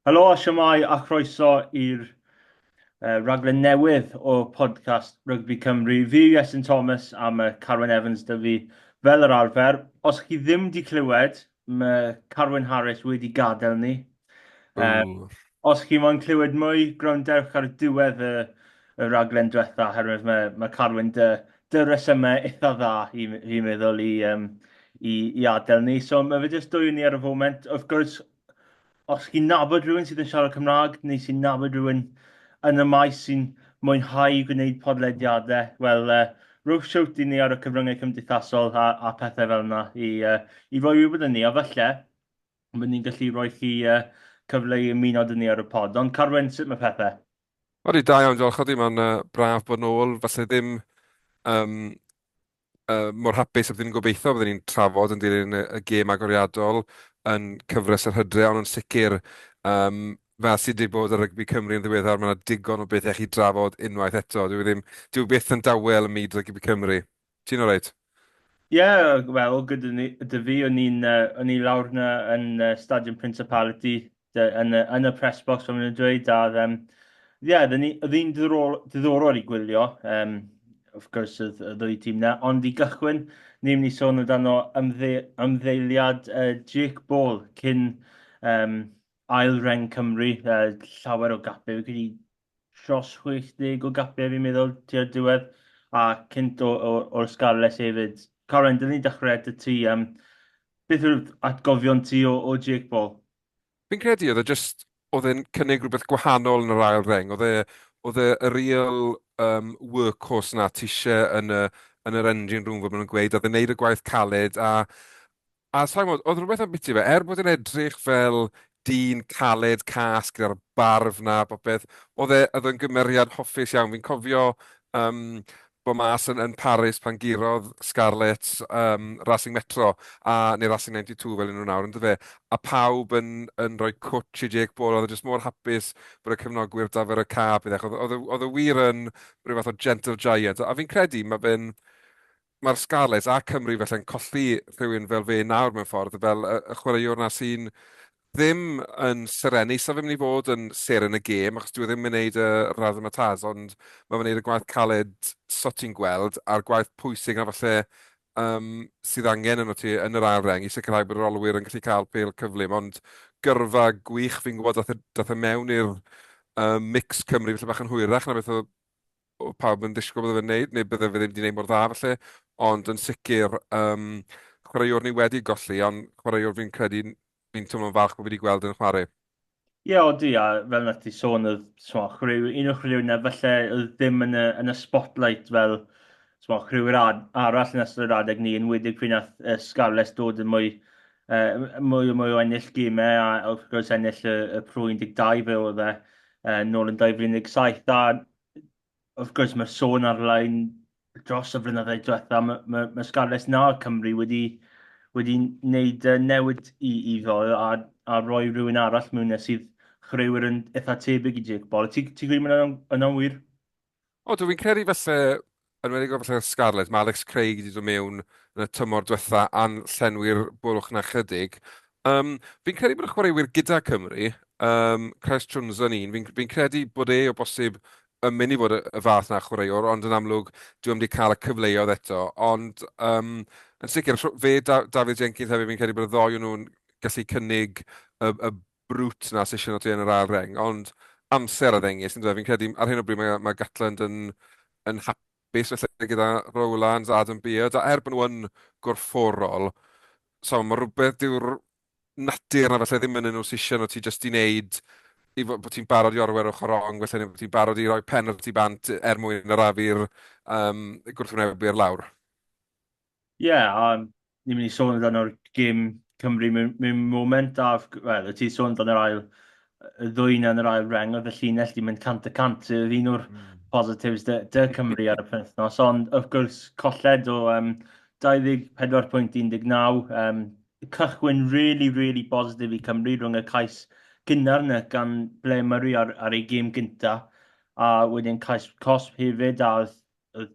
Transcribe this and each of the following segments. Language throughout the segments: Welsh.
Helo, siamai a chroeso i'r uh, raglen newydd o podcast Rygbi Cymru. Fi yw Iestyn Thomas a mae Carwyn Evans dy fi fel yr arfer. Os chi ddim di clywed, mae Carwyn Harris wedi gadael ni. Um, os chi moyn clywed mwy, gwrandewch ar diwedd y, y raglen diwetha, herwydd mae, mae Carwyn dy, dy resymau eitha dda i, i meddwl i, um, i, i adael ni. So mae fe jyst dwy ni ar y foment. Wrth gwrs, os chi'n nabod rhywun sydd yn siarad Cymraeg neu sy'n nabod rhywun yn y maes sy'n mwynhau gwneud podlediadau, wel, uh, rhywch siwt i ni ar y cyfryngau cymdeithasol a, a pethau fel yna i, uh, i roi wybod yn ni. A falle, Byddwn ni'n gallu rhoi chi cyfle i ymuno dyn ni ar y pod. Ond Carwyn, sut mae pethau? Odi, da iawn, diolch Odi, mae'n braf bod nôl, falle ddim um, uh, mor hapus a byddwn ni'n gobeithio, byddwn ni'n trafod yn dilyn y, y gêm agoriadol yn cyfres yr hydre, ond yn sicr, um, fel sydd wedi bod ar rygbi Cymru yn ddiweddar, mae yna digon o bethau chi drafod unwaith eto. Dwi ddim, dwi byth yn dawel ym myd rygbi Cymru. Ti'n alright? Ie, wel, gyda ni, dy fi, o'n i'n, uh, o'n i lawr na yn uh, Stadium Principality, yn, uh, yn y press box, fel maen dweud, a, um, ie, yeah, oedd hi'n diddorol i gwylio, um, of course, y ddwy tîm na. Ond i gychwyn, ni'n mynd i sôn amdano ymdde, ymddeiliad uh, Jake Ball cyn um, ail reng Cymru, uh, llawer o gapau, fi wedi dros 60 o gapiau fi'n meddwl tua'r diwedd a cynt o, o, o'r Scarlets hefyd. Caroline, dyn ni'n dechrau at y ti. Um, beth yw'r atgofion ti o, o Jake Paul? Fi'n credu oedd e just, oedd e'n cynnig rhywbeth gwahanol yn yr ail reng. Oedd e, oedd e y real um, workhorse na ti eisiau yn, y, yn yr engine room, fod nhw'n gweud, oedd e'n neud y gwaith caled a A sa i'n gwybod, oedd rhywbeth ambiti fe, er bod e'n edrych fel dyn caled, cas, gyda'r barf 'na a popeth, oedd e, oedd e'n gymeriad hoffus iawn. Fi'n cofio um, bod mas yn, yn Paris pan gurodd Scarlett um, Racing Metro, a, neu Racing 92 fel nhw nawr, ynddo fe, a pawb yn, yn rhoi cwtch i Jake Paul, oedd e jyst mor hapus bod y cefnogwyr da fer y ca, byddech, oedd, oedd, oedd y wir yn rhywbeth o gentle giant, a fi'n credu mae fe'n Mae'r Scarlets a Cymru felly'n colli rhywun fel fe nawr mewn ffordd, fel y, y chwaraewr na sy'n ddim yn serennu, so fe'n mynd i fod yn seren y gêm, achos dwi e ddim yn gwneud y razzmatazz, ond mae fe'n gwneud y gwaith caled so ti'n gweld, a'r gwaith pwysig na falle um, sydd angen yn o ti yn yr ail reng i sicrhau bod yr olwyr yn gallu cael pel cyflym, ond gyrfa gwych fi'n gwybod dath e, dath e mewn i'r um, mix Cymru felly bach yn hwyrach na beth oedd oedd pawb yn ddisgwyl bod e'n wneud, neu bydde fe ddim wedi wneud mor dda falle, ond yn sicr, um, chwaraewr ni wedi golli, ond chwaraewr fi'n credu fi'n teimlo'n falch bod wedi gweld yn chwarae. Ie, yeah, odi, a fel nath ti sôn, oedd chwaraewr, un o'r chwaraewr na falle oedd ddim yn y, yn y spotlight fel chwaraewr arall yn ystod yr adeg ni, yn wedig pryd nath uh, Scarlets dod yn mwy uh, mwy, mwy o ennill gymau a wrth gwrs ennill y, y Pro 12 fe oedd e uh, nôl yn 2017 a wrth gwrs mae'r sôn arlein dros y flynyddau diwetha, mae, mae, mae Scarlets na Cymru wedi, wedi wneud newid i, i ddol a, a roi rhywun arall mewn e sydd chreuwyr yn eitha tebyg i Jake Ball. Ti'n ti gwybod yna'n, yna'n wir? O, dwi'n credu falle Yn enwedig efallai yn Scarlets, mae Alex Craig wedi dod mewn yn y tymor diwetha' a'n llenwi'r bwlch 'na chydig. Yym, fi'n credu bod y chwaraewyr gyda Cymru, yym, Craes Jones yn un, fi'n fi'n credu bod e o bosib yn mynd i fod y y fath 'na o chwaraewr, ond yn amlwg dyw e 'im 'di cael y cyfleoedd eto. Ond yym, yn sicr, rh- fe, Da- Dafydd Jenkins hefyd, fi'n credu bod y ddou o nhw'n gallu cynnig y y brwt na sesiwn o ti yn yr ail reng, ond amser a ddengys, yn dweud, fi'n credu ar hyn o bryd mae, mae Gatland yn, yn hapus felly gyda Rowlands, Adam Beard, a er bod nhw yn gorfforol, so mae rhywbeth dyw'r natur na felly ddim yn nhw sesiwn o ti jyst i wneud i fod, bod ti'n barod i orwer ochr rong, felly bod ti'n barod i roi pen o'r ti bant er mwyn yr afi'r um, gwrthwynebu ar lawr. Ie, a ni'n mynd i sôn amdano'r gêm Cymru mewn mewn moment a f- g- wel o' ti'n sôn amdan yr ail yy ddwyn yn yr ail reng o'dd y llinell 'di mynd cant y cant sydd oedd un o'r positives 'da 'da Cymru ar y penwythnos ond wrth gwrs colled o yym 24 pwynt 19 yym cychwyn rili rili bositif i Cymru rhwng y cais gynnar 'na gan Blair Murray ar ar ei gêm gynta a wedyn cais cosb hefyd a o'dd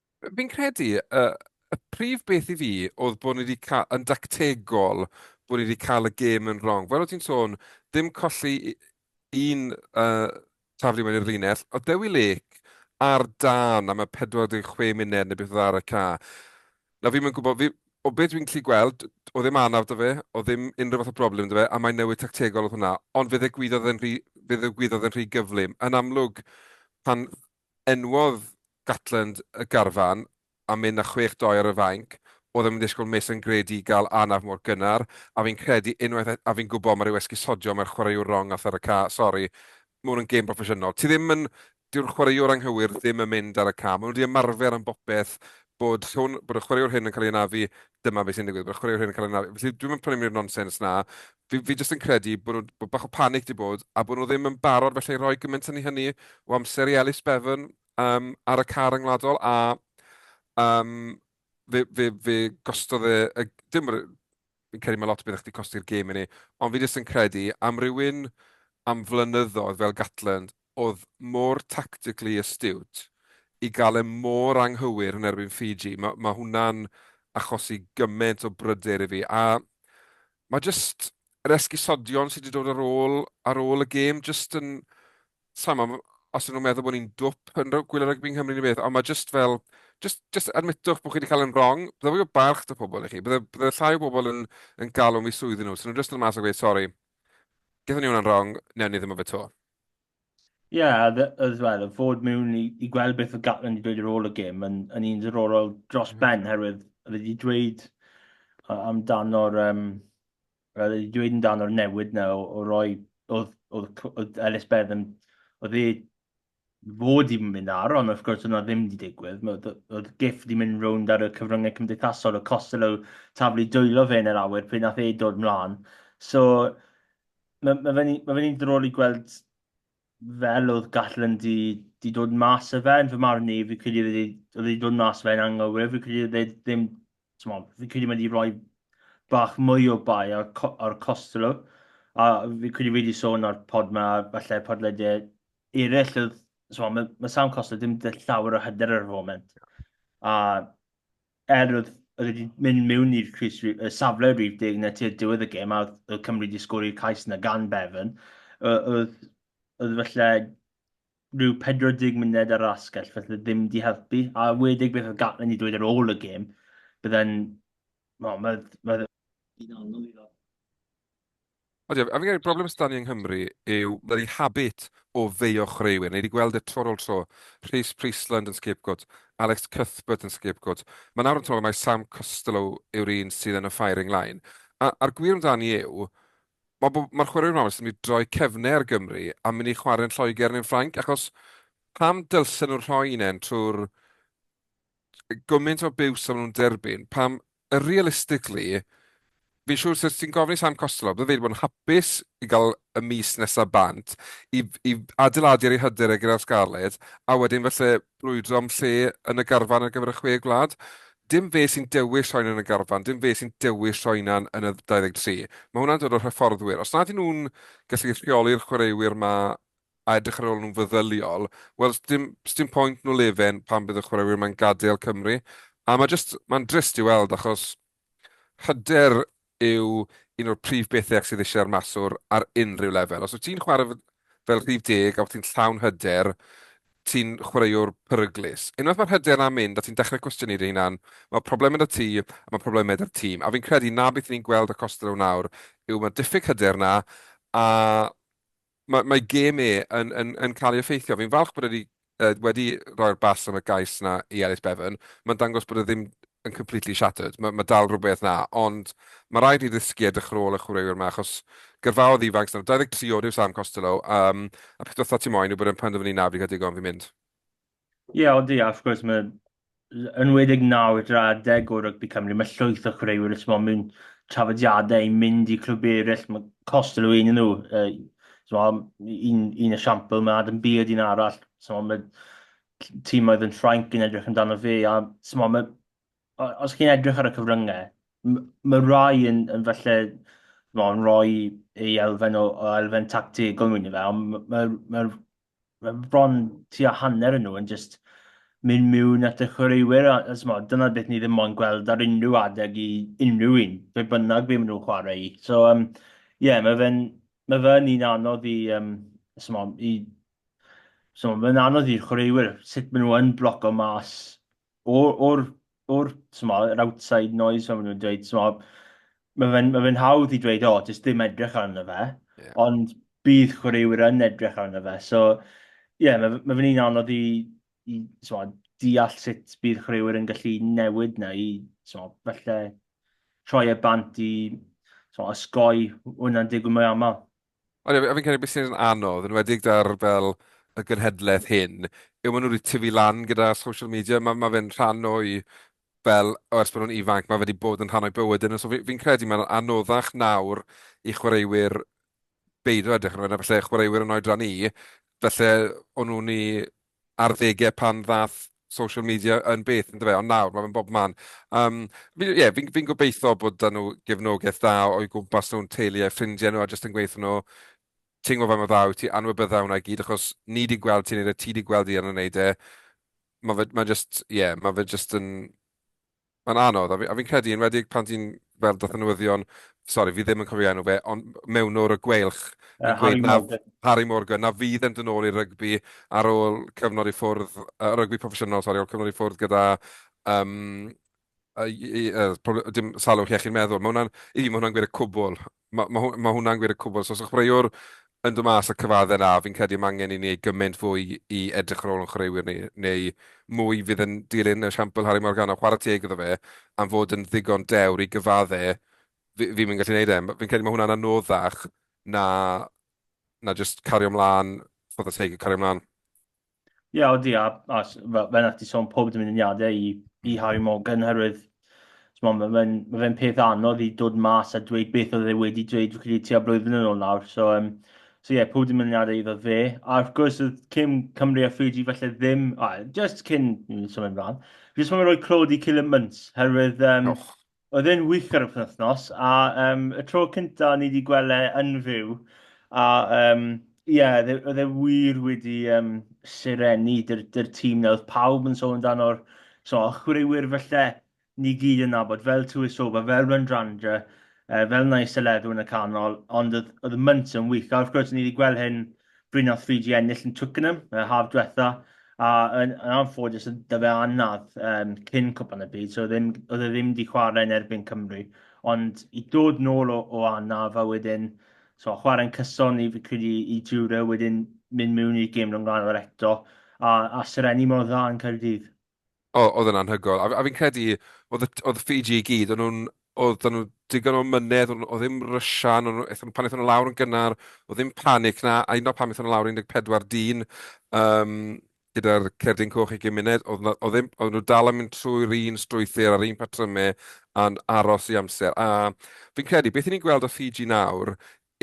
Fi'n credu y, y prif beth i fi oedd bod ni wedi cael, yn dactegol, bod ni wedi cael y gêm yn wrong. Fel o ti'n sôn, dim colli un uh, taflu mewn i'r linell. Oedd Dewi Lake ar dan am y 46 munud neu beth oedd ar y ca. Na fi'n mynd gwybod, fi, o beth dwi'n gallu gweld, o ddim anaf da fe, o ddim unrhyw fath o broblem da fe, a mae'n newid tactegol oedd hwnna. Ond fe ddigwyddodd yn rhy, fe ddigwyddodd yn rhy gyflym. Yn amlwg, pan Enwodd Gatland y garfan a mynd â chwech doi ar y fainc. Oedd e'm yn disgwyl Miss yn greadigol anaf mor gynnar, a fi'n credu unwaith et a fi'n gwybod mae rhyw esgusodion mae'r chwaraewr wrong ar thŷr y ca, sori, mae hwn yn gêm broffesiynol, ti ddim yn, dyw'r chwaraewr anghywir ddim yn mynd ar y ca, maen nhw wedi ymarfer am bopeth bod hwn, bod y chwaraewr hyn yn cael ei anafu, dyma be sy'n digwydd, bod y chwaraewr hyn yn cael ei anafu, felly dwi'm yn prynu am ni'r nonsens 'na, fi, fi jyst yn credu bod, nhw, bod bach o panic di bod a bod nhw ddim yn barod felly rhoi gymaint yn hynny o amser i Ellis Bevan um, ar y car yngwladol a um, fe, fe, fe gostodd e, y, dim, fi'n credu mae lot o beth chdi costi'r gêm i ni, ond fi jyst yn credu am rywun am flynyddoedd fel Gatland oedd mor tactically astute i gael e mor anghywir yn erbyn Fiji, mae, mae hwnna'n achosi gymaint o bryder i fi, a mae jyst yr esgusodion sydd wedi dod ar ôl, ar ôl y gêm, jyst yn, sa'n ma, os ydyn nhw'n meddwl bod ni'n dwp yn gwylio rygbi yng Nghymru neu beth, ond mae jyst fel, jyst, jyst admitwch bod chi wedi cael yn wrong, bydde fwy o balch dy pobl i chi, bydde, bydde llai o bobl yn, yn galw mi swyddi nhw, so nhw'n jyst yn mas a gweud, sori, gyda ni hwnna'n wrong, newn ni ddim o fe to. Ie, a ddy- oedd fel, y fod mewn i, i gweld beth oedd Gatland wedi dweud ar ôl y gêm yn, yn un ddiddorol dros mm. ben, herwydd oedd wedi dweud a- amdano'r... Um, oedd wedi dweud amdano'r newid na o, o roi... Oedd, oedd, oedd Ellis Bedd yn... Oedd e fod i mynd ar, ond wrth gwrs oedd yna ddim wedi digwydd. Oedd, oedd gif wedi mynd rownd ar y cyfryngau cymdeithasol, y Costello taflu dwylo fe yn yr awyr pryd nath ei dod mlaen. So, mae ma fe'n ma fe ddrol i gweld fel oedd Gatlin di, di dod mas o fe, yn fy marn i, fi credu oedd wedi dod mas o fe'n anghywir, fi credu oedd e ddim, fi credu mae wedi rhoi bach mwy o bai ar, ar Costello, a fi credu wedi sôn ar pod ma, falle podleidau eraill, oedd, mae, mae Sam Costello ddim dy llawer o hyder ar y foment, a er oedd oedd wedi mynd mewn i'r Cris y safle rif deg na tu'r diwedd y gêm a oedd Cymru wedi sgori'r cais yna gan Bevan, oedd, oedd felly rhyw 40 munud ar asgell, felly ddim wedi helpu. A wedig beth oedd Gatlin wedi dweud ar ôl y gêm, byddai'n... Wel, mae'n... Mae'n anodd i Ond ie, a fi'n credu broblem sydd 'da ni yng Nghymru yw bloody habit o feio chwaraewyr. Ni wedi gweld e tro ar ôl tro. Rhys Priestland yn scapegoat, Alex Cuthbert yn scapegoat. Mae nawr yn teimlo mai Sam Costelow yw'r un sydd yn y firing line. A, a'r gwir amdani yw, mae bo- mae'r chwaraewyr yma wastad yn mynd i droi cefnau ar Gymru a mynd i chwarae yn Lloegr neu'n Ffrainc, achos pam dylsen nhw rhoi un e'n trwy'r gymaint o biws a maen nhw'n derbyn, pam realistically, fi'n siŵr os ti'n gofyn i Sam Costello, bydd e wedi bod yn hapus i gael y mis nesaf bant i, i adeiladu ar ei hyder e gyda'r Scarlets, a wedyn felly brwydro am lle yn y garfan ar gyfer y chwe gwlad. Dim fe sy'n dewis rhoi yn y garfan, dim fe sy'n dewis rhoi yna yn y 23. Mae hwnna'n dod o'r hyfforddwyr. Os nad nhw'n gallu rheoli'r chwaraewyr mae a edrych ar ôl nhw'n feddyliol, wel, sdim, sdim pwynt nhw lefen pan bydd y chwaraewyr mae'n gadael Cymru. A mae just, mae'n drist i weld achos hyder yw un o'r prif bethau sydd eisiau ar maswr ar unrhyw lefel. Os wyt ti'n chwarae fel rhif deg a wyt ti'n llawn hyder, ti'n chwaraewr peryglus. Unwaith mae'r hyder yna'n mynd a ti'n dechrau cwestiynu dy hunan, mae problemau da ti a mae problemau da'r tîm. A fi'n credu na beth ni'n gweld y Costa nawr yw mae diffyg hyder yna a Mae, mae gêm e yn, yn, yn cael ei effeithio. Fi'n falch bod wedi, uh, wedi rhoi'r bas am y gais na i Ellis Bevan. Mae'n dangos bod e ddim yn completely shattered. Mae, mae dal rhywbeth na, ond mae rhaid ni ddysgu edrych ar ôl y chwaraewyr yma, achos gyrfaodd ifanc, 23 oed yw Sam Costello, um, a peth dotha ti moyn yw bod e'n penderfynu na, fi'n cael digon, fi'n mynd. Ie, odi, a wrth gwrs, mae enwedig nawr i'r adeg o rygbi Cymru, mae llwyth o chwaraewyr os mae'n mynd trafodiadau i mynd i clwb eraill, mae cost yn ymwneud nhw. Uh, so, un, un esiampl, mae Adam Beard un arall, so, mae tîm oedd yn Ffrainc yn edrych amdano fe, a so, mae, os chi'n edrych ar y cyfryngau, mae rai yn, yn felly mae'n rhoi ei elfen o, o elfen tactegol mewn i fe, ond mae'r ma, ma bron tua hanner yn nhw yn just mynd miwn at y chwaraewyr, a, a smod, dyna beth ni ddim mo'n gweld ar unrhyw adeg i unrhyw un, fe bynnag fe maen nhw'n chwarae i. So, um, yeah, mae fe'n ma fe un anodd i, um, smod, i So mae'n anodd i'r chwaraewyr sut maen nhw yn bloco mas o'r, or o'r, t'mod, yr outside noise, fel ma' nhw'n dweud, t'mod, mae fe'n ma fe hawdd i dweud, o, oh, jyst dim edrych arno fe, yeah. ond bydd chwaraewyr yn edrych arno fe. So, ie, yeah, mae ma fe'n un anodd i, i t'mod, deall sut bydd chwaraewyr yn gallu newid na i, t'mod, felly troi e bant i t'mod, osgoi hwnna'n digwydd mwy aml. Ond ie, a fi'n credu beth sy'n anodd, yn enwedig 'da'r fel y genhedlaeth hyn, yw maen nhw wedi tyfu lan gyda social media. Mae ma fe'n rhan o'i fel, o ers bod nhw'n ifanc, mae fe wedi bod yn rhan o'i bywyd nhw. So fi'n fi credu mae'n anoddach nawr i chwaraewyr beidio edrych arno fe, na falle chwaraewyr yn oedran ni, falle o'n nhw'n i ar ddegau pan ddaeth social media yn beth yn dyfe, ond nawr mae fe'n bob man. Um, fi, yeah, fi'n fi gobeithio bod da nhw gefnogaeth da o'i gwmpas nhw'n teulu a ffrindiau nhw a jyst yn gweithio nhw ti'n gwybod fe mae dda i ti anwybydda hwnna i gyd achos ni di gweld ti'n neud e, ti di gweld i yn y neud e. Mae fe, mae just, yeah, mae fe just yn Mae'n anodd, a fi'n credu, yn enwedig pan ti'n fel dath y newyddion, sori, fi ddim yn cofio enw fe, ond mewnwr y Gweilch, uh, Harry, na, Morgan. Harry Morgan, na fydd yn dyn ôl i'r rygbi ar ôl cyfnod i ffwrdd, uh, rygbi proffesiynol, sori, ar ôl cyfnod i ffwrdd gyda um, uh, uh, dim salwch iechyd meddwl. Mae hwnna'n, i fi, mae hwnna'n gwir y cwbl. Mae ma, ma hwnna'n gwir y cwbl. So os yw'ch chwaraewr yn dod mas a cyfadde na, fi'n credu mae angen i ni ei gymaint fwy i edrych ar ôl yn chwaraewyr ni, neu mwy fydd yn dilyn esiampl Harry Morgana, chwarae teg iddo fe, am fod yn ddigon dewr i gyfadde, fi, fi'n mynd gallu gwneud e. Fi'n credu mae hwnna'n anoddach na, na just cario mlaen, ffordd y teg i cario mlaen. Ie, yeah, odi, a, a fel yna ti sôn pob dymuniadau i, i Harry Morgan, herwydd mae'n ma fe'n ma fe peth anodd i dod mas a dweud beth oedd e wedi dweud fi'n credu tua blwyddyn yn ôl nawr. So, um, so ie, yeah, pob dymuniadau iddo fe. A wrth gwrs, oedd Cym Cymru a Fiji felly ddim, a, just cyn, symud ymlaen, fi jyst yn rhoi clod i Cillian Munt, herwydd um, oh. Oedd e'n wych ar y penwythnos, a um, y tro cyntaf ni wedi gweld e yn fyw, a um, yeah, e, oedd e wir wedi um, sirenu dy'r dyr tîm na, oedd pawb yn sôn amdano'r so, chwaraewyr felly ni gyd yn nabod, fel Tuisoba, fel Randrandra, uh, fel Nais Eledw yn y canol, ond oedd, oedd y mynt yn wych, a wrth gwrs ni wedi gweld hyn Bryn a thri 'di ennill yn Twickenham y haf diwetha, a yn anffodus oedd 'da fe anaf yym cyn Cwpan y Byd, so ddim oedd e ddim 'di chwarae yn erbyn Cymru. Ond i dod nôl o o anaf a wedyn so chwarae'n cyson i fi credu i Jura wedyn mynd mewn i'r gêm rhyngwladol eto a a serennu mor dda yn Caerdydd. O- oedd e'n anhygoel. A f- a fi'n credu, oedd y t- oedd Fiji i gyd, o'n nhw'n... oedd 'da nhw digon o ymynedd, o'n nhw- oedd ddim rysian, o'n nhw... aethon nhw... pan aethon nhw lawr yn gynnar, oedd ddim panic 'na, a hyd yn oed pan aethon nhw lawr 14 dyn, yym, gyda'r cerdyn coch ugain munud, oedd 'na... oedd ddim... oedden nhw dal yn mynd trwy'r un strwythur a'r un patrymau a'n aros i amser. A fi'n credu, beth 'yn ni'n gweld o Fiji nawr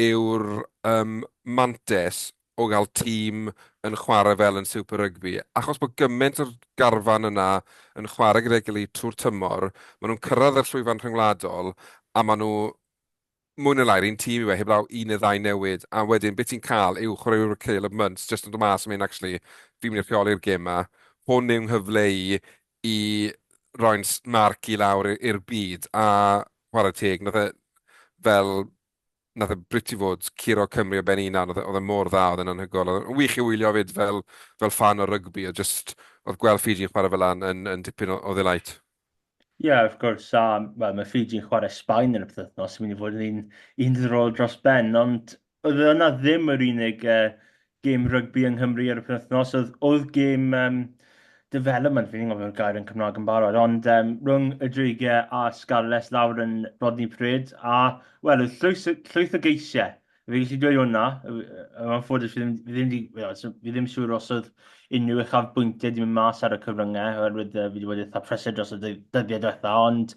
yw'r yym mantes o gael tîm yn chwarae fel yn Super Rugby, achos bod gymaint o'r garfan yna yn chwarae gyda'i gilydd trwy'r tymor, maen nhw'n cyrraedd y llwyfan rhyngwladol, a maen nhw mwy neu lai'r un tîm i fe, heblaw un neu ddau newid, a wedyn beth ti'n cael yw chwaraewr Caleb Muntz jyst yn dod mas a mynd, actually, fi'n mynd i rheoli'r gêm yma, hwn yw'n nghyfle i i roi'n marc i lawr i'r byd, a chwarae teg, nath e fel nath e briti fod curo Cymru o ben ei hunan, oedd e oedd e mor dda, oedd e'n anhygoel, oedd e'n wych i wylio 'fyd fel fel ffan o rygbi a jyst oedd gweld Ffiji'n chwarae fel 'na yn yn yn dipyn o o ddelight. Ie wrth gwrs a wel mae Ffiji'n chwarae Sbaen yn y pythefnos, sy'n mynd i fod yn un un ddiddorol dros ben ond oedd e yna ddim yr unig yy gêm rygbi yng Nghymru ar y penwythnos, oedd, oedd gêm um, development, fi'n gwybod beth gair yn Cymraeg yn barod, ond um, rhwng y dreigiau a Scarlets lawr yn Rodney Prid, a wel, oedd llwyth, llwyth o geisiau. Fe gallu dweud hwnna, mae'n ffodus fi ddim, fi ddim, fi fi ddim siŵr os oedd unrhyw uchaf bwyntiau wedi mynd mas ar y cyfryngau, oherwydd uh, fi wedi bod eitha presed dros y dyddiau diwetha, ond,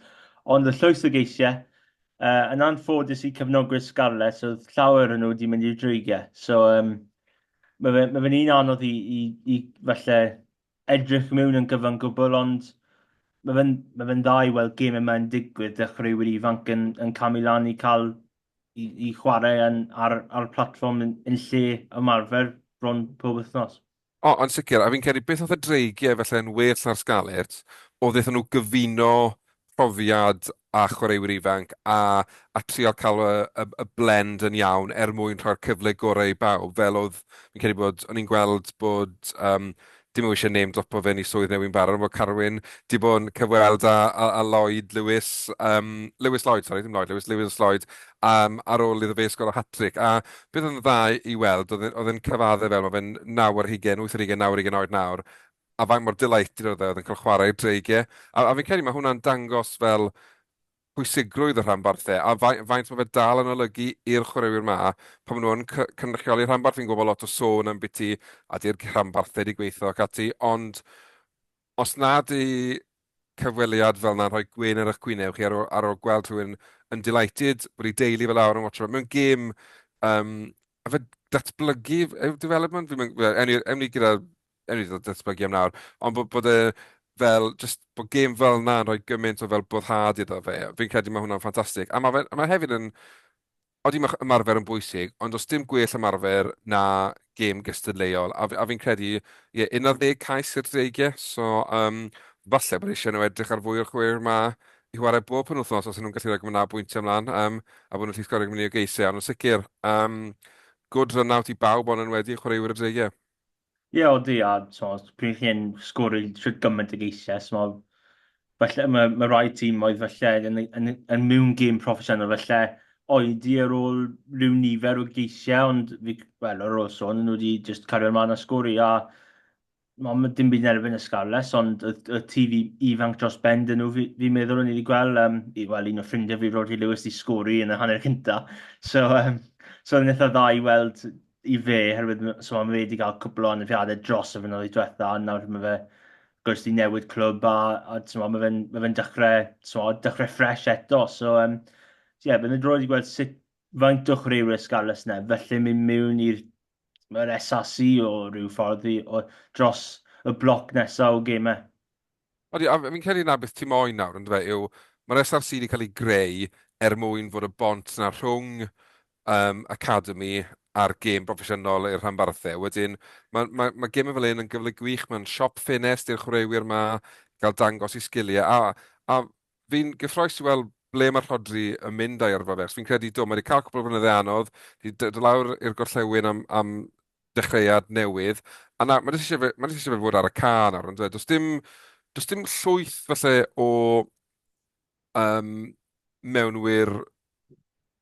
ond y llwyth o geisiau, Uh, yn anffodus i cyfnogwyr Scarlets, oedd llawer yn nhw wedi mynd i'r dreigiau. So, um, mae fe'n ma fe un anodd i, i, i falle edrych mewn yn gyfan gwbl, ond mae fe'n ma fe dda i weld gym yma'n digwydd, dechreuwyr ifanc yn, yn camu lan i cael i, i chwarae yn, ar, ar platfform yn, yn lle ymarfer bron pob wythnos. O, yn sicr, a fi'n credu beth oedd y dreigiau falle yn well na'r Scarlets, oedd iddyn nhw gyfuno profiad a chwaraewyr ifanc a, a trial cael y, y, y blend yn iawn er mwyn rhoi'r cyfle gorau i bawb, fel oedd, fi'n credu bod, o'n i'n gweld bod, um, dim yw eisiau name dropo fe ni swydd newyn barod, bod Carwyn di bod yn cyfweld a, a, a Lloyd Lewis, um, Lewis Lloyd, sorry, ddim Lloyd Lewis, Lewis Lloyd, um, ar ôl iddo fe sgol o hat-trick, a beth oedd yn dda i weld oedd e oedd e'n cyfadde fel ma' fe'n naw ar hugen, wyth ar hugen, naw ar hugen oed nawr, a faint mor delighted oedd e oedd e'n cael chwarae i'r dreigie. A a fi'n credu ma' hwnna'n dangos fel pwysigrwydd y rhanbarth e, a fai- faint ma' fe dal yn olygu i'r chwaraewyr 'ma pan ma' nhw yn cy- cynrychioli rhanbarth. Fi'n gwybod bod lot o sôn ambiti a 'di'r rhanbarth wedi gweithio ac ati, ond Os nad yw cyfweliad fel 'na'n rhoi gwên ar eich gwyneb chi ar ôl, ar ôl gweld rhywun yn delighted bod ei deulu fel awr yn watcho fe mewn gêm, um, a fe datblygu yw development, fi'n mynd, ewn ni gyda, ewn ni datblygu am nawr, ond bod, bod e fel, just bod gêm fel 'na'n rhoi gymaint o fel boddhad iddo fe, fi'n credu mae hwnna'n ffantastig. A mae, fe, mae hefyd yn Odi mae ymarfer yn bwysig, ond does dim gwell ymarfer na gêm gystadleuol. A, a fi'n credu, ie, yeah, 11 cais i'r dreigiau, so um, falle bod eisiau nhw edrych ar fwy o'r chwer yma i chwarae bob yn wythnos os nhw'n gallu rhoi gwna bwyntiau ymlaen, um, a bod nhw'n lli sgorio gwneud o geisau, ond yn sicr, um, good run out i bawb ond yn wedi chwaraewyr y dreigiau. Ie, odi, a t'mod, pryd chi'n sgôr i shwt gymaint o geisiau, t'mod, falle ma' ma' rai timoedd falle yn eu- yn eu- yn mewn gêm proffesiynol falle oedi ar ôl ryw nifer o geisiau ond fi c- wel ar ôl sôn nhw 'di jyst cario mlan a sgôr i a ma' ma' dim byd yn erbyn y Scarlets ond y y tîf i- ifanc dros ben 'dyn nhw fi fi'n meddwl o'n i 'di gweld yym i wel un o ffrindiau fi Rhodri Lewis 'di sgôr i yn y hanner cynta so yym so o'n i'n itha dda i weld i fe, herwydd so, mae wedi cael cwpl o anafiadau dros y fynyddoedd diwetha, a nawr mae fe gwrs di newid clwb, a, a so, mae fe'n mae fe dechrau, so, dechrau ffres eto. So, um, so yeah, byddai'n droed i gweld sut faint o chwaraewyr Scarlets nef, felly mynd mewn i'r mae'r SAC o rhyw ffordd i, o, dros y bloc nesaf o gemau. Odi, a fi'n credu na beth ti moyn nawr, yn dweud, yw mae'r SRC wedi cael ei greu er mwyn fod y bont na rhwng um, academy a'r gêm broffesiynol i'r rhanbarthau. Wedyn, mae, mae, mae gemau fel un yn gyfle gwych, mae'n siop ffenest i'r chwaraewyr yma gael dangos i sgiliau, a, a fi'n gyffroes i weld ble mae'r rhodri yn mynd a'i yrfa fe, fi'n credu do, mae wedi cael cwbl o flynyddau anodd, wedi dod lawr i'r gorllewin am, am dechreuad newydd, a nawr, mae jyst eisiau fe, mae jyst eisiau fe fod ar y ca nawr, ond does dim, does dim llwyth falle o um, mewnwyr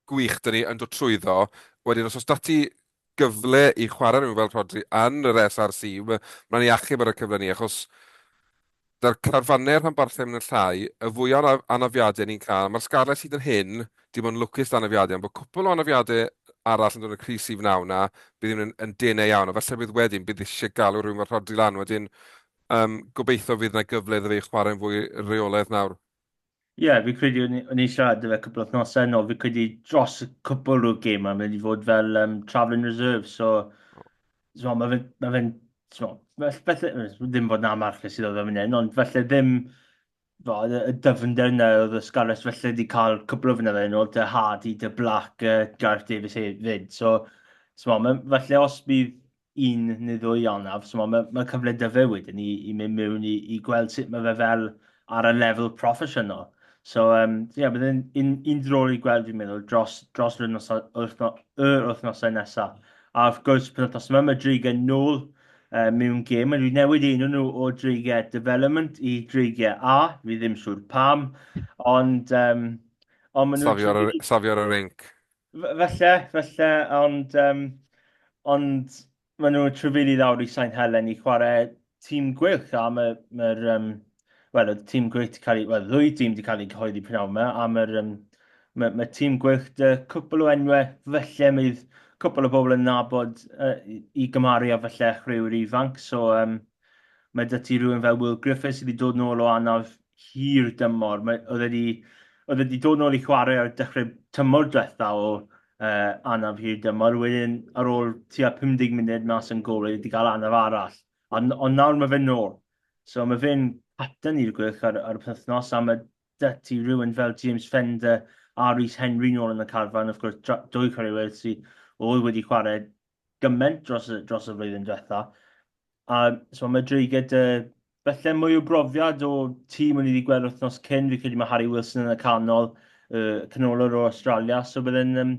gwych dyn ni yn dod trwyddo. Wedyn, os oes dati gyfle i chwarae rhywun fel Rodri yn yr SRC, mae'n ei achub ar y cyfle ni, achos Dy'r carfanne rhanbarthau mynd yn llai, y fwya o anafiadau ni'n cael. Mae'r scarlets hyd yn hyn dim ond lwcus dan anafiadau, ond bod cwpwl o anafiadau arall yn dod yn y crys sydd wnawn 'na, bydd hyn yn denau iawn, ond falle bydd wedyn, bydd eisiau galw rhywun fel Rhodri lan wedyn, gobeithio fydd 'na gyfle iddo fe i chwarae'n fwy reolaidd nawr. Ie, yeah, fi credu o'n i'n siarad dy fe cwpl o thnosau nôl, fi credu dros y cwpl o'r gêm mae'n mynd i fod fel um, travelling reserve, so so, mae fe'n, ma fe so, falle, ddim fod na march sydd oedd yn hyn, ond falle ddim fo, y dyfnder yna oedd y Scarlets falle wedi cael cwpl o fynyddoedd yn ôl, dy Hardy, dy Black, uh, Gareth Davis hefyd, so, so ma, falle os bydd un neu ddwy ionaf. So mae, mae, mae cyfle dy fe wedyn i, i mynd mewn i, i gweld sut mae fe fel ar y lefel proffesiynol. So, um, so yeah, bydd yn un, un drol i gweld fi'n meddwl dros, dros yr wythnosau, wythno, yr wythnosau nesaf. A wrth gwrs, pan wythnos yma, mae Dreigiau nôl uh, mewn gêm. Mae nhw wedi newid enw nhw o Dreigiau Development i Dreigiau A. Fi ddim siŵr pam, ond... Um, ond maen nhw... Safio ar y rinc. Falle, falle, ond, um, ond maen nhw'n trefili lawr i Sain Helen i chwarae tîm gwych am y, mae'r, um, wel, y tîm gwych wedi cael ei, wel, ddwy tîm wedi cael ei cyhoeddi prynawn yma, a mae'r, um, mae, mae tîm gwych dy cwpl o enwau, felly mae'r cwpl o bobl yn nabod uh, i gymharu a felly chwaraewyr ifanc, so um, mae dy ti rhywun fel Will Griffiths sydd wedi dod nôl o anaf hir dymor. Mae... oedd e 'di... oedd e 'di dod nôl i chwarae ar dechrau tymor diwetha o uh, anaf hir dymor. Wedyn, ar ôl tua 50 munud mas yn gol, wedi cael anaf arall. Ond, ond nawr mae fe'n nôl. So mae fe'n capten i'r gwych ar, ar y penthnos, a mae da ti rhywun fel James Fender a Rhys Henry nôl yn y carfan, of gwrs, dwy chwaraewyr sydd oedd wedi chwarae gymaint dros y, dros y flwyddyn diwetha. A so mae dreiged y Felly mwy o brofiad o tîm o'n i wedi gweld wythnos cyn, fi credu mae Harry Wilson yn y canol, uh, canolwr o Australia, so byddai'n um,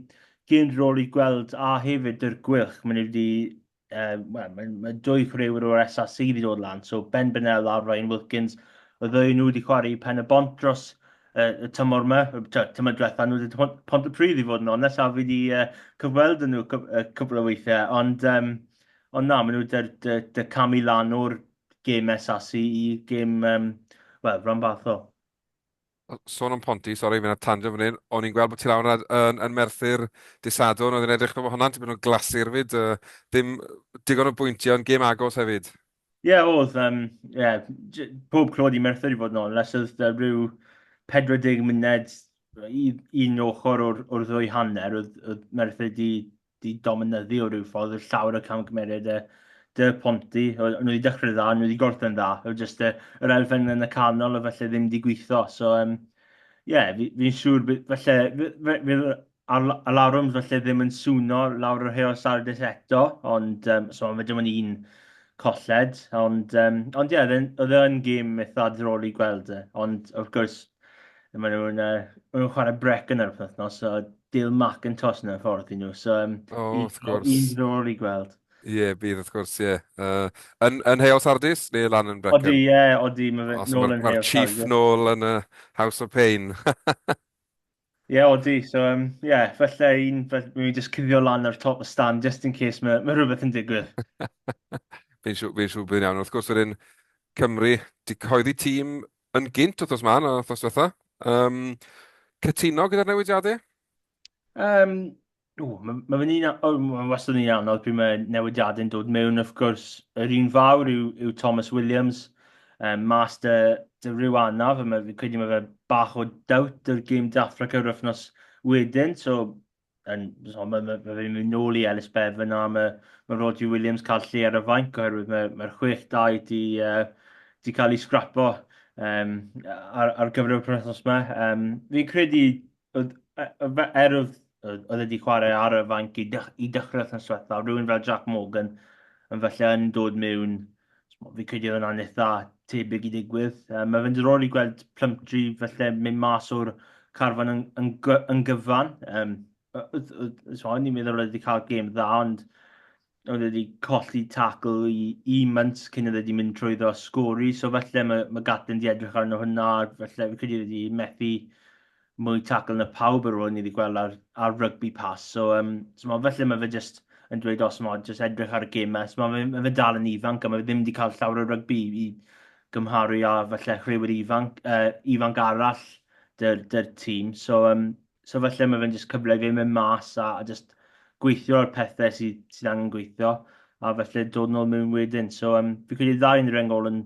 gyn rôl i gweld a hefyd yr gwylch, mae'n wedi uh, well, mae, mae dwy chwaraewyr o'r SAC wedi dod lan, so Ben Bennell a Ryan Wilkins, y ddwy nhw wedi chwarae pen y bont dros uh, y tymor yma, tymor diwetha nhw wedi pont y pryd i fod yn onest, a fi wedi uh, cyfweld yn nhw cwbl o weithiau, ond, um, ond na, maen nhw wedi dy, dy, dy camu lan o'r gêm SAC i gêm, um, wel, rhan fath o. Sôn am Ponty, sori, fi'n ar tangent fan hyn, o'n i'n gweld bod ti lawr yn, yn, yn Merthyr disadwn, oedd yn edrych bod hwnna'n tipyn o glasur fyd, uh, dim digon o bwyntiau, ond gêm agos hefyd. Ie, yeah, oedd, um, yeah, pob clod i Merthyr i fod yn ôl, nes oedd uh, rhyw 40 munud i un ochr o'r, or ddwy hanner, oedd, oedd Merthyr di didominyddu o ryw ffordd, oedd llawer o camgymeriad y dy ponti, nhw wedi dechrau dda, nhw wedi gorffen dda, oedd jyst y, yr elfen yn y canol o felly ddim wedi gweithio, so um, yeah, fi'n fi siŵr, felly, fydd alarwms felly ddim yn swno lawr yr heol Saturdays eto, ond um, so mae dim ond un colled, ond, um, ond ie, yeah, oedd e yn gêm eitha ddrol i gweld e, ond wrth gwrs, maen nhw'n uh, nhw chwarae brec yn yr wythnos, so Dale McIntosh yn y ffordd i nhw. So, um, oh, un, wrth gwrs. Un ddol i gweld. Ie, yeah, bydd wrth gwrs, ie. Yeah. Uh, yn, yn Hale Sardis neu lan yn Brecon? Odi, ie, yeah, odi. Mae fe nôl yn Mae'r chief nôl yn y House of Pain. Ie, yeah, odi. So, ie, um, yeah, felly un, mi jyst cuddio lan ar top y stand, just in case mae, mae rhywbeth yn digwydd. Fi'n siw, fi siw bydd iawn. Wrth gwrs, wedyn, Cymru, di coeddi tîm yn gynt wrthos ma na wrthos diwetha. Um, cytuno gyda'r newidiadau? Um, o, mae ma fe'n un, o, mae wastad yn un anodd pryd mae newidiadau'n dod mewn, wrth gwrs, yr un fawr yw, yw Thomas Williams, um, mas dy, dy rhyw anaf, a mae, credu mae fe bach o dawt yr gym Dafrac yr wythnos wedyn, so yn, so, mae ma, ma fe'n mynd nôl i Ellis Bev yna, mae, mae Roger Williams cael lle ar y fainc oherwydd mae'r mae, mae 6-2 di, uh, di cael ei sgrapo um, ar, ar gyfer y penwthnos yma. Um, fi'n credu, er oedd oedd wedi chwarae ar y fainc i, dych, i dechrau wythnos diwethaf, rhywun fel Jack Morgan yn falle yn dod mewn Fi'n credu oedd hwnna'n eitha tebyg i ddigwydd. Um, mae fe'n diddorol i gweld Plumtree felly mynd mas o'r carfan yn, yn, yn gyfan. Um, so, ni'n meddwl oedd wedi cael gêm dda, ond oedd wedi colli tacl i, i Munt cyn oedd wedi mynd trwy ddo sgori. So felly mae, mae Gatlin wedi edrych arno hwnna, felly fi'n credu wedi methu mwy tacl na pawb ar ôl i ni wedi gweld ar ar rygbi pas so yym t'mod felly mae fe jyst yn dweud os t'mod jyst edrych ar y gemau t'mod mae mae fe dal yn ifanc a mae fe ddim wedi cael llawer o rygbi i i gymharu â falle rhywun ifanc yy ifanc arall dy'r dy'r tîm so yym so falle mae fe'n jyst cyfle i fe mynd mas a a jyst gweithio ar pethau sydd, sydd angen gweithio, a felly dod nôl mewn wedyn. So, um, fi credu ddau yn rengol yn,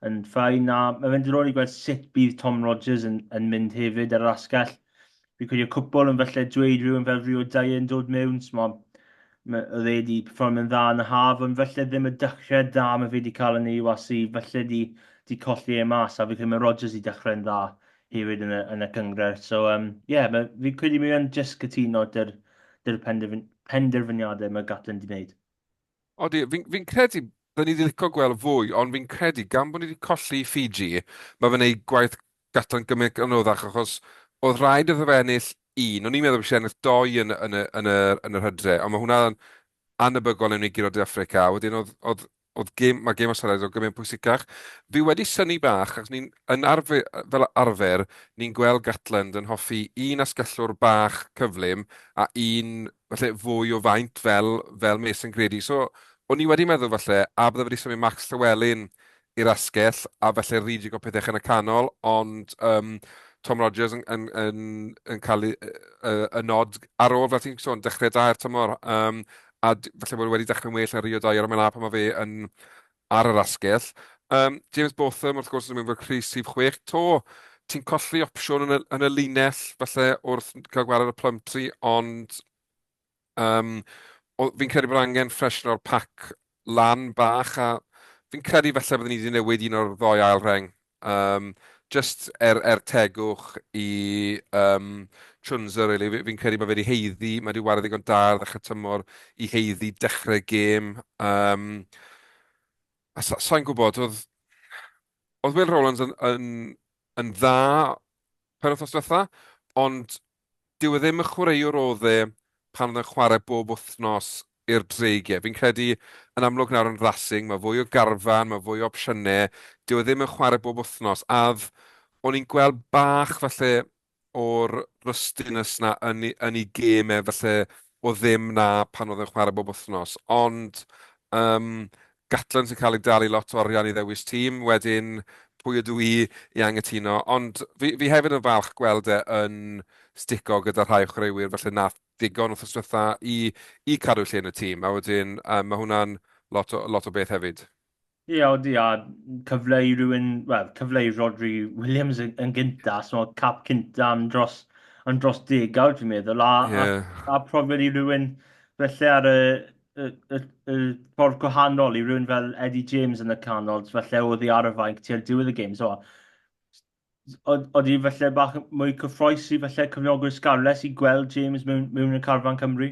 yn ffain, a mae fe'n dyrol i gweld sut bydd Tom Rogers yn, yn mynd hefyd ar yr asgell. Fi credu y cwpl yn felly dweud rhywun fel Rio Dye yn dod mewn, so mae oedd e wedi perform yn dda yn y haf, ond felly ddim y dechrau da mae fe wedi cael yn ei UAC, felly di, di colli e mas, a fi credu mae Rogers wedi dechrau'n dda hefyd yn y, yn y cynghrair. So, um, yeah, ma, fi credu mi yn jyst cytuno dy'r, dy'r penderfyniadau mae Gatland wedi gwneud. Odi, fi'n fi credu byddwn ni wedi licio gweld fwy, ond fi'n credu gan bod ni wedi colli Fiji, mae fe'n ei gwaith Gatland gymryd yn oddach, achos oedd rhaid iddo fe ennill un, o'n i'n meddwl bod eisiau ennill doi yn, yn, yn, yn, yn yr hydre, ond mae hwnna'n anabygol yn ei giro De Africa, wedyn oedd, oedd Oedd gêm, mae gêm Australia o gymryd pwysicach. Fi wedi syni bach, ac ni'n yn arfer, fel arfer, ni'n gweld Gatland yn hoffi un asgellwr bach cyflym a un falle fwy o faint fel, fel Mason Grady. So, o'n i wedi meddwl falle, a bydde wedi symud Max Llewellyn i'r asgell, a falle redig o pethau yn y canol, ond um, Tom Rogers yn, yn, yn, yn cael y, y, y nod ar ôl, fel ti'n sôn, dechrau da i'r tymor, um, a falle bod e wedi dechrau'n well yn Rio dau ar y mela pan mae fe yn ar yr asgell. Um, James Botham wrth gwrs yn mynd fel Chris sif 6 to. Ti'n colli opsiwn yn y, yn y linell falle wrth cael gwared y Plumtree ond um, fi'n credu bod angen ffreshen o'r pac lan bach a fi'n credu falle byddwn ni wedi newid un o'r ddoi ail reng Um, just er, er tegwch i um, Chunza, really. fi'n fi credu bod fe wedi heiddi, mae wedi wario ddigon da ar ddechrau tymor i heiddi dechrau gêm. Um, a sa'n sa gwybod, oedd, oedd Will Rowlands yn, yn, yn dda pen wythnos diwetha, ond dyw e ddim y chwaraewr oedd e pan oedd e'n chwarae bob wythnos i'r Dreigiau. Fi'n credu yn amlwg nawr yn Racing, mae fwy o garfan, mae fwy o opsiynau, dyw e ddim yn chwarae bob wythnos, a o'n i'n gweld bach falle o'r rustiness na yn, yn ei gêm e, falle o ddim 'na pan oedd e'n chwarae bob wythnos, ond yym Gatland sy'n cael ei dalu lot o arian i ddewis tîm, wedyn pwy ydw i i anghytuno, ond fi, fi hefyd yn falch gweld e yn stico gyda rhai o chwaraewyr felly wnaeth ddigon wrth ystwytha i, i cadw lle yn y tîm, a wedyn um, mae hwnna'n lot o, lot o beth hefyd. Ie, yeah, odi, a cyfle i rywun, wel, cyfle i Rodri Williams yn, yn gynta, so cap cynta yn dros, yn dros degawd, dwi'n meddwl, a, yeah. a, a profiad i rywun felly ar y, y, y, y ffordd gwahanol i rywun fel Eddie James yn y canol, felly oedd i ar y fainc tua'r diwedd y gêm, so oeddi felly bach mwy cyffroes i felly cyfnogwyr Scarlets i gweld James mewn, mewn y carfan Cymru?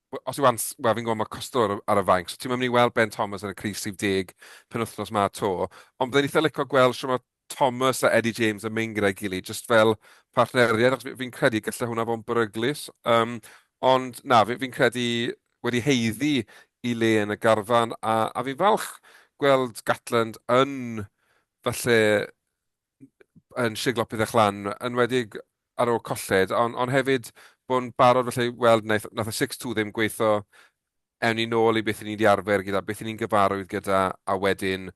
Wel, os yw Ans... Wel, fi'n gwybod mae Costa ar y, ar y fainc, so ti'n mynd i weld Ben Thomas yn y crys 70 penwythnos ma to. Ond byddai'n eitha licio gweld sy'n mae Thomas a Eddie James yn mynd gyda'i gilydd, jyst fel partneriaid, achos fi'n credu gallai hwnna fod yn beryglus. Um, ond na, fi'n fi credu wedi heiddi i le yn y garfan, a, a fi'n falch gweld Gatland yn falle yn siglo pethau lan, yn enwedig ar ôl colled, ond, ond hefyd bod yn barod felly i weld wnaeth, wnaeth y 6-2 ddim gweithio ewn ni nôl i beth i ni wedi arfer gyda, beth i ni'n gyfarwydd gyda, a wedyn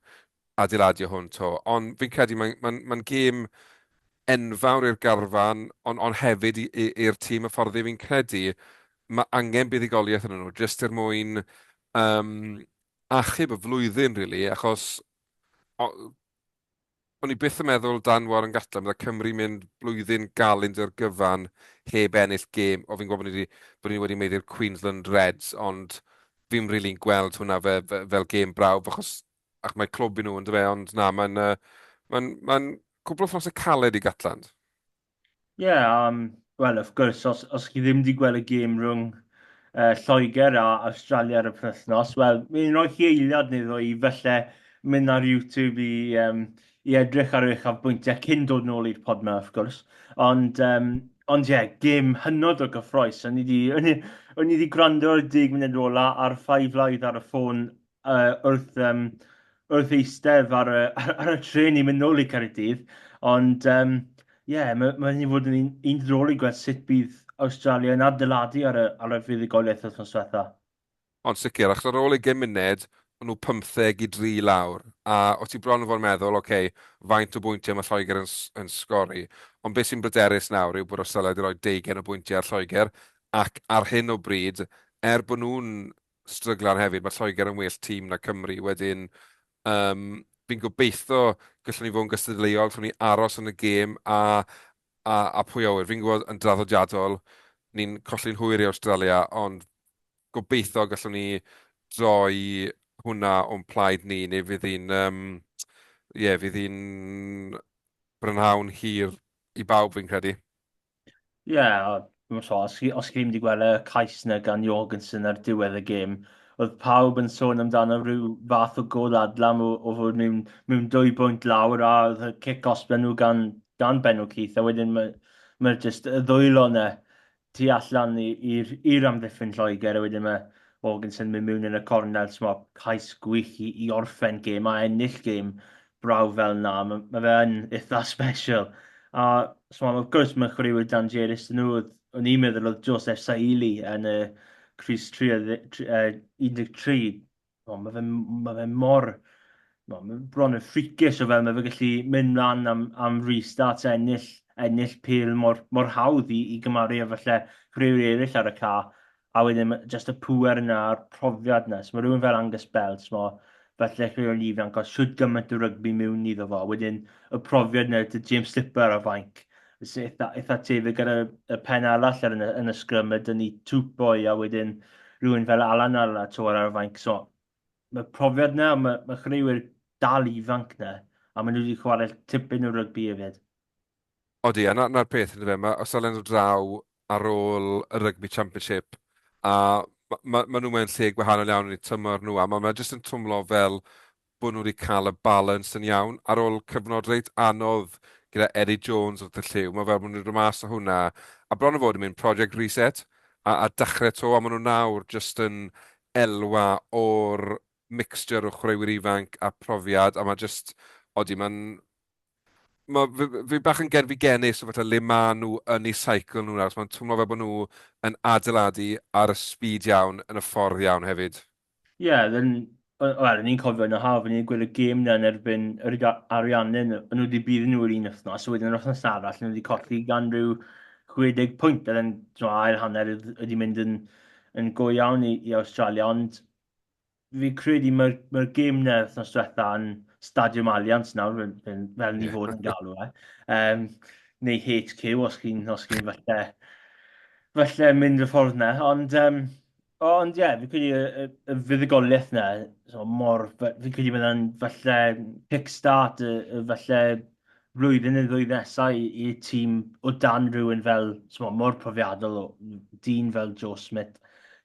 adeiladio hwn to. Ond fi'n credu mae'n ma ma gêm enfawr i'r garfan, ond, on hefyd i'r tîm y ffordd fi'n credu mae angen buddigoliaeth yn nhw, jyst er mwyn um, achub y flwyddyn, really, achos o, O'n i byth yn meddwl Dan Warren Gatland bydde Cymru mynd blwyddyn galyn dy'r gyfan heb ennill gêm. O fi'n gwybod bod ni wedi, bod ni wedi meiddi'r Queensland Reds ond fi'm rili'n gweld hwnna fe, fe, fel gêm brawf achos ac mae clwb i nhw yn dyfe ond na mae'n uh, mae'n mae'n cwpl o ffrosau caled i Gatland. Ie, yeah, um, wel, wrth gwrs, os, os chi ddim wedi gweld y gêm rhwng uh, Lloegr a Australia ar y penwythnos, wel, mi'n rhoi chi eiliad neu ddwy i felly mynd ar YouTube i, um, i edrych ar eich afbwyntiau cyn dod nôl i'r pod yma, wrth gwrs. Ond, um, ond ie, yeah, gêm hynod o gyffroes. O'n i wedi gwrando ar y dig munud ola a'r ffai flaidd ar y ffôn yy wrth yym wrth eistedd ar y ar y trên i mynd nôl i Caerdydd, ond yym ie, mae mae wedi bod yn un un diddorol i gweld sut bydd Awstralia yn adeiladu ar y ar y fuddugoliaeth wythnos diwetha. Ond sicr, achos ar ôl ugain munud, o'n nhw pymtheg i dri i lawr, a o' ti bron yn fod yn meddwl, ok, faint o bwyntiau mae Lloegr yn yn sgori? Ond be sy'n bryderus nawr yw bod Awstralia wedi rhoi deugain o bwyntiau ar Lloegr, ac ar hyn o bryd, er bod nhw'n stryglan hefyd, mae Lloegr yn well tîm na Cymru, wedyn um, fi'n gobeithio gallwn ni fod yn gystadleuol, gallwn ni aros yn y gêm a, a, a pwy awyr. Fi'n gwybod yn draddodiadol, ni'n colli'n hwyr i Australia, ond gobeithio gallwn ni droi hwnna o'n plaid ni, neu fydd hi'n um, yeah, fydd hi'n brynhawn hir i bawb fi'n credu. Ie, a dwi'm yn siŵr, os chi, os chi ddim wedi gweld y cais yna gan Jorgensen ar diwedd y gêm, oedd pawb yn sôn amdano rhyw fath o gol adlam o, o fod mewn, mewn dwy bwynt lawr, a oedd y cic osben nhw gan, gan Benno Keith, a wedyn mae, mae jyst y ddwylo yna tu allan i- i'r i'r amddiffyn Lloegr, a wedyn mae Jorgensen mynd mewn yn y cornel, so mae cais gwych i, i orffen gêm a ennill gêm brawf fel na, mae, mae fe yn eitha special. A, so, wrth gwrs, mae'n chwaraewyr dan Jerus yn nhw. O'n i'n meddwl oedd Joseph Saili yn y Cris 13. O, mae fe, mae fe mor... Mae fe bron yn ffricis o fel mae fe gallu mynd mlaen am, am restarts a ennill, ennill pil mor, mor hawdd i, i gymaru efallai chwaraewyr eraill ar y ca. a wedyn ma' jyst y pŵer yna a'r profiad yna. So mae rhywun fel Angus Bell, timod, fel dechreuwr ifanc, oedd siwt gymaint o rygbi mewn iddo fo. Wedyn y profiad yna, dy James Slipper ar y fainc, sy'n eitha, eitha tebyg ar y, y pen arall ar yn, yn y sgrym, mae dyn ni Tupoi a wedyn rhywun fel Alan ar, ar y fainc. So, mae profiad yna, mae, mae chreuwyr dal ifanc yna, a maen nhw wedi chwarae tipyn o rygbi hefyd. Odi, a 'na 'na'r peth yndyfe, fe, ma' os dalen nhw draw ar ôl y Rugby Championship a ma' ma' ma' nhw mewn lle gwahanol iawn yn eu tymor nhw a ma' ma' jyst yn twmlo fel bod nhw wedi cael y balans yn iawn ar ôl cyfnod reit anodd gyda Eddie Jones wrth y llyw. Mae fel bod nhw wedi dod mas o hwnna a bron a fod yn mynd project reset a, a dechrau to a maen nhw nawr jyst yn elwa o'r mixture o chwaraewyr ifanc a profiad a mae jyst, odi, mae'n mae fi, fi bach yn gerfigenus o fatha le maen nhw yn ei cycle nhw'n aros. Mae'n twmlo fel bod nhw yn adeiladu ar y speed iawn, yn y ffordd iawn hefyd. Ie, yeah, then, wel, ni'n cofio yn y haf, ni'n gweld y gêm na yn erbyn yr Ariannin, yn nhw wedi bydd nhw yr un wythnos, a wedyn yr wythnos arall, nhw wedi colli gan rhyw 60 pwynt, a then, ail hanner ydi mynd yn, yn go iawn i, i Australia, ond fi'n credu mae'r mae gêm na wythnos diwetha yn Stadiwm Allianz nawr, fel, fel, fel ni fod yn galw e. Um, neu HQ, os chi'n chi falle, falle mynd y ffordd na. Ond, um, ond ie, yeah, fi'n credu y, y, y fuddugoliaeth na, so mor, fi'n credu byddai'n falle kickstart, y, y falle flwyddyn neu ddwy nesaf i, i tîm o dan rhywun fel, mo, mor profiadol o dyn fel Joe Smith.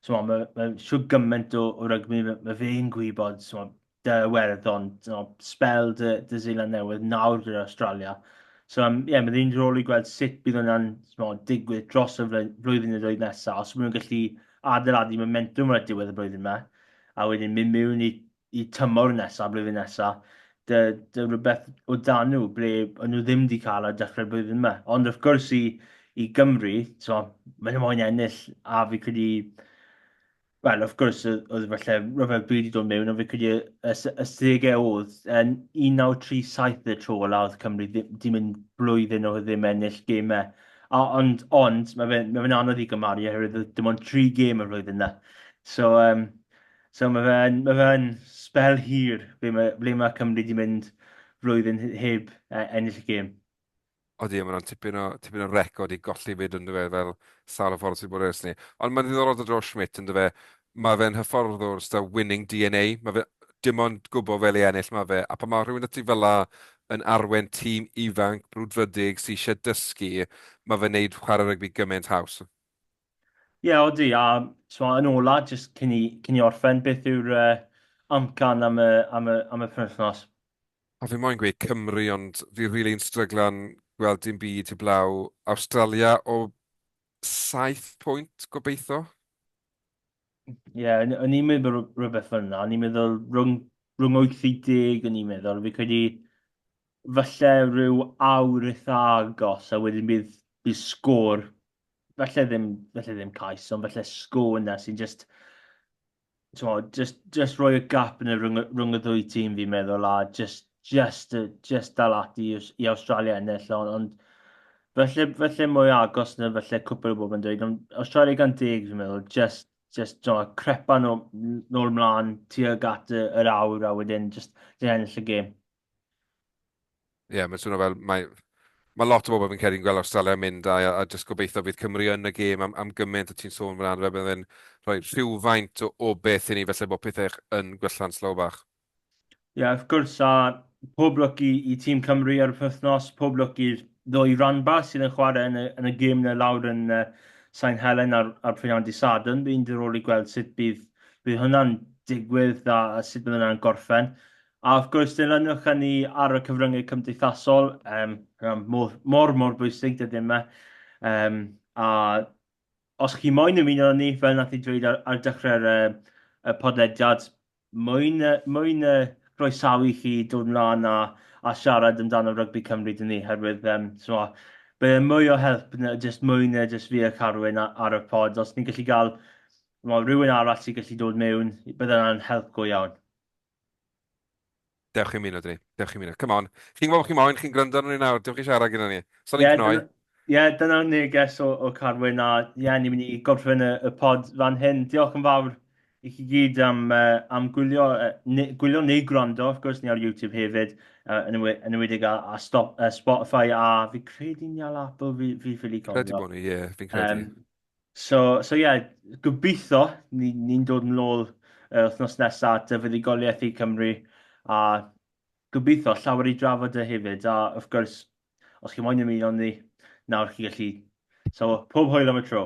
Mo, mae, mae siw gymaint o, o rygbi, mae, mae fe'n gwybod mo, dy werddon, mo, spel dy, dy Zealand Newydd nawr gyda Australia. So, um, yeah, mae ddyn rôl i gweld sut bydd hwnna'n digwydd dros y flwyddyn neu ddwy nesaf, os maen nhw'n gallu adeiladu momentum ar y diwedd y blwyddyn yma, a wedyn mynd mewn i y tymor nesa, blwyddyn nesa, dy, dy rhywbeth o dan nhw, ble o'n nhw ddim wedi cael ar dechrau'r blwyddyn yma. Ond wrth gwrs i, i Gymru, so, maen nhw moyn ennill, a fi credu, wel, wrth gwrs, oedd falle rhyfel byd i dod mewn, ond fi credu y, y, y segau oedd yn 1937 y tro ola oedd Cymru ddim yn blwyddyn o ddim ennill gemau. A, ond, ond mae fe'n mae fe anodd i gymaru oherwydd dim ond tri gêm y flwyddyn yna. So, um, So mae fe yn, mae fe yn spel hir ble mae, ble mae Cymru wedi mynd flwyddyn heb e, ennill y gêm. Odi, mae'n rhan tipyn o, tipyn o record i golli fyd yn dyfe, fel sawl o ffordd sy'n bod ers ni. Ond mae'n ddiddorol dod o Schmidt yn dyfe, mae fe'n hyfforddwr sydd winning DNA, mae fe dim ond gwybod fel ei ennill mae fe, a pan mae rhywun ati fel la yn arwen tîm ifanc, brwdfrydig, sy'n eisiau dysgu, mae fe'n neud chwarae rygbi gymaint haws. Ie, odi, a twa, yn ola, jyst cyn i, cyn i orffen, beth yw'r uh, amcan am y, am y, am y penwythnos? A fi moyn gweud Cymru, ond fi rili yn stryglan gweld dim byd heblaw Awstralia o saith pwynt, gobeithio. Ie, yeah, o'n i'n meddwl rhywbeth fel yna. O'n i'n meddwl rhwng, rhwng 80, o'n i'n meddwl. Fi credu falle rhyw awr eitha agos, a wedyn bydd, bydd sgôr, falle ddim, falle ddim cais, ond falle sgôr yna sy'n just, just, just rhoi y gap yn y rhwng, rhwng y ddwy tîm fi'n meddwl, a just jyst, jyst dal ati i Awstralia ennill, ond, ond felly, felly mwy agos na felly cwpl o bobl yn dweud, ond Awstralia gan deg fi'n meddwl, jyst, jyst no, crepa nhw nôl mlaen tuag at yr awr a wedyn jyst dyn ennill y gêm. Ie, yeah, mae'n swnio fel, mae, mae lot o bobl fi'n credu'n gweld Australia mynd a, a jyst gobeithio fydd Cymru yn y gêm am, am gymaint o ti'n sôn fan hyn, fe bydd yn rhoi rhywfaint o, o beth i ni felly bod pethau yn gwella'n slow bach. Ie, wrth gwrs, a pob lwc i i tîm Cymru ar y penwythnos, pob lwc i'r ddwy ranba sydd yn chwarae yn y yn y gêm 'na lawr yn yy Sain Helen ar ar prynhawn dydd Sadwrn. Bydd hi'n ddiddorol i gweld sut bydd bydd hwnna'n digwydd a a sut bydd hwnna'n gorffen. A wrth gwrs, dilynwch a ni ar y cyfryngau cymdeithasol, yym, hwnna'n modd mor mor bwysig, dydy e ddim e? Yym, a Os chi moyn ymuno â ni, fel nath i dweud ar ar dechrau'r yy y podlediad, moyn yy moyn yy groesawu chi dod mlan a a siarad amdano rygbi Cymru 'da ni, herwydd yym t'mo' bydd e'n mwy o help na jyst mwy na jyst fi a Carwyn a- ar y pod. Os ni'n gallu ga'l t'mo' rywun arall sy'n gallu dod mewn, bydd hwnna'n help go iawn. Dewch chi ymuno dyn ni. Dewch chi ymuno. Come on. Chi'n gwybod bod chi moyn, chi'n gwrando arno ni nawr. Dewch i siarad gyda ni. Sa'n ni'n cnoi. Ie, dyna'r neges o, o Carwyn a ie, ni'n mynd i gorffen y, y pod fan hyn. Diolch yn fawr i chi gyd am, uh, am gwylio, uh, ne, gwylio neu gwrando, wrth gwrs, ni ar YouTube hefyd, uh, yn, yw, yn ywedig a, a stop, uh, Spotify a fi credu ni al Apple, fi, fi ffili cofio. Credu bod ni, ie, yeah, fi'n credu. Um, So so ie, gobeithio ni ni'n dod yn ôl yr wythnos nesa at y fuddugoliaeth i Cymru, a gobeithio llawer i drafod y hefyd, a wrth gwrs, os chi moyn ymuno ni, nawr chi gallu. So pob hwyl am y tro.